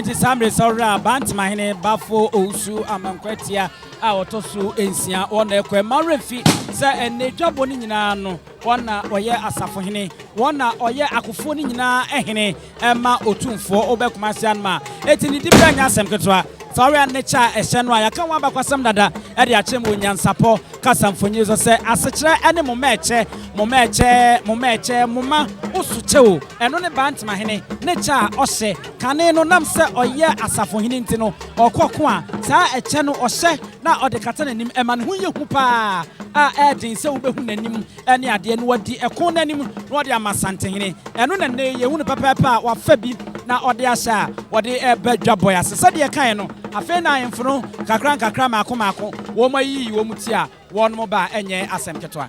nti saa mmere sɔhwɛ a bantamahene bafo owusu amankwatia a wɔtɔ so nsia wɔn na ɛkɔ ɛma werɛ fi sɛ ɛnna adwabɔ no nyinaa no Wɔn na wɔyɛ asafohene. Wɔn na wɔyɛ akofoɔ no nyinaa hene ma Otumfoɔ. Wobɛ Kumasi Anoma. Enti ne dibea nyɛ asɛm ketewa. Fa wɛn ne kyɛ a ɛhyɛ no a yɛaka ho abakɔsɛm dada de akyerɛ mu wɔ nyansapɔ kasamfonin so sɛ asekyerɛ ne moma ɛkyɛ, moma ɛkyɛ, moma ɛkyɛ, moma wo so kyɛ o. Ɛno ne Bantemahene ne kyɛ a ɔhyɛ. Kane no nam sɛ ɔyɛ asafohene nti no, ɔkɔ ko a, saa ɛkyɛ no ɔhyɛ. na ɔde kata n'anim, ɛma ne ho yɛ hu paa a ɛyɛ den sɛ wubehu n'anim ne adeɛ, na wadi ɛko no anim na wɔde ama Asantenhene. Ɛno na nnɛyi yɛhu no pɛpɛɛpɛ a wɔafa bi na ɔde ahyɛ a wɔde reba dwabɔe ase. Sɛdeɛ yɛkaeɛ no, afei na ahemfo no nkakrankakra mmaako mmaako wɔayiyi wɔn ti a wɔnom ba a ɛnyɛ asɛm ketewa.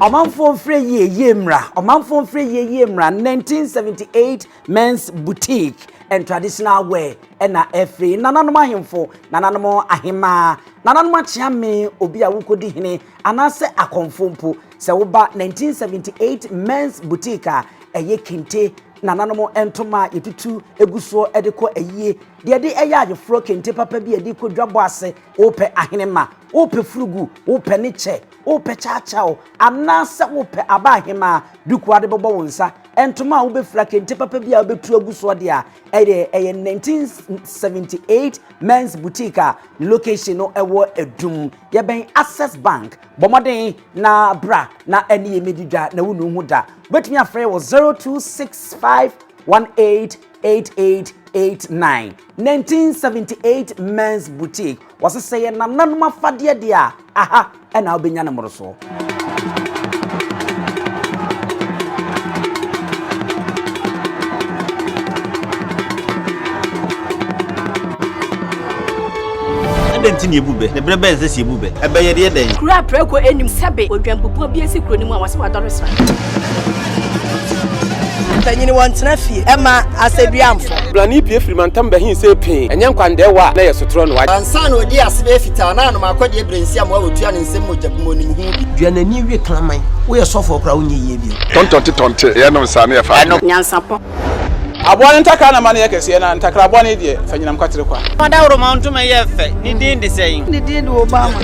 Ɔmanfoɔ mfrɛ yie yie mmra Ɔmanfoɔ mfrɛ yie yie mmra 1978 Men's Boutique and Traditional Wear ɛna ɛfiri nananom ahemfo nananom ahemaa nananom akyeame obi a wokɔdi hene anaasɛ akɔmfo mpo sɛ woba 1978 Men's Boutique a ɛyɛ kente nananom ntoma a yɛtutu egu soɔ de kɔ ayie deɛ de ɛyɛ ayeforɔ kente papa bi a yɛde kɔ dwabɔ ase Wopɛ ahenemma? Wopɛ furugu? Wopɛ ne kyɛ? Wopɛ kyaakyaaw? Anaasɛ wopɛ aba ahemaa, duku a wode bɛbɔ wo nsa, ntoma a wobɛfira, kente papa bi a wobɛtu agu soɔ deɛ a, ɛyɛ, ɛyɛ 1978 Men's Boutique a ne location no ɛwɔ Adum, yɛbɛn Access Bank. Bɔ mmɔden na bra na ɛne yɛn mmɛdi dwa na wonnu ho da. Wobɛtumi afrɛ wɔ 026518 8889 1978 Men's Boutique wɔse sɛ yɛ nananom afadeɛ deɛ a aha ɛna wobɛnya ne mmorosoɔ Adɛn nti na yɛbu bɛ? Ne berɛ bɛn sɛ sɛ yɛbu bɛ? Ɛbɛyɛ deɛ dɛn? Kuro a prɛko nnim sɛbe odwanbubuo bi asi kuro no mu a wɔse wadɔre sra. Mpanyini wɔn tena fie ɛma asɛduamfo. Brani pie firi mantam bɛhin sɛ pee ɛnyɛ nkwandɛɛwa a na yɛ sotorɔ no wagye. Ansa na ɔdi ase bɛyɛ fitaa na anom akɔdeɛ brɛnsi a mmoa wɔtua ne nsam mogya gu mu ɔnim ho bi. Dua n'ani we kraman. Woyɛ sɔfoɔ koraa wonyɛ yie bio. Tɔntɔnte tɔnte yɛnom saa ne yɛfa adwene. Nyansapɔ. Aboa no ntakra na ma no yɛ kɛseɛ, na ntakra bɔne deɛ, fa nyinam kwatere kwa. Fa dawuroma ntoma yɛ fɛ, ne din de sɛn? Ne din de Obama.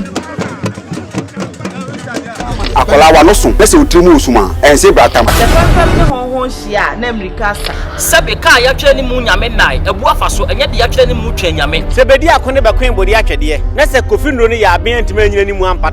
Akwadaa w'ano so na sɛ wo tiri mu resum a, ɛnse brata ma. Sɛ fɛmfɛm ne hɔnhɔn hyia a, na mmirika asa. Sɛbe kaa a yɛatwerɛ ne mu Nyame nnae, abu afa so, ɛnyɛ de yɛatwerɛ ne mu Twɛn Nyame. Sɛ bɛdi ako ne bɛkoe bɔdi atwɛdeɛ, na sɛ Kofi Nnuro no yɛ aben antumi anyina ne mu ampata a.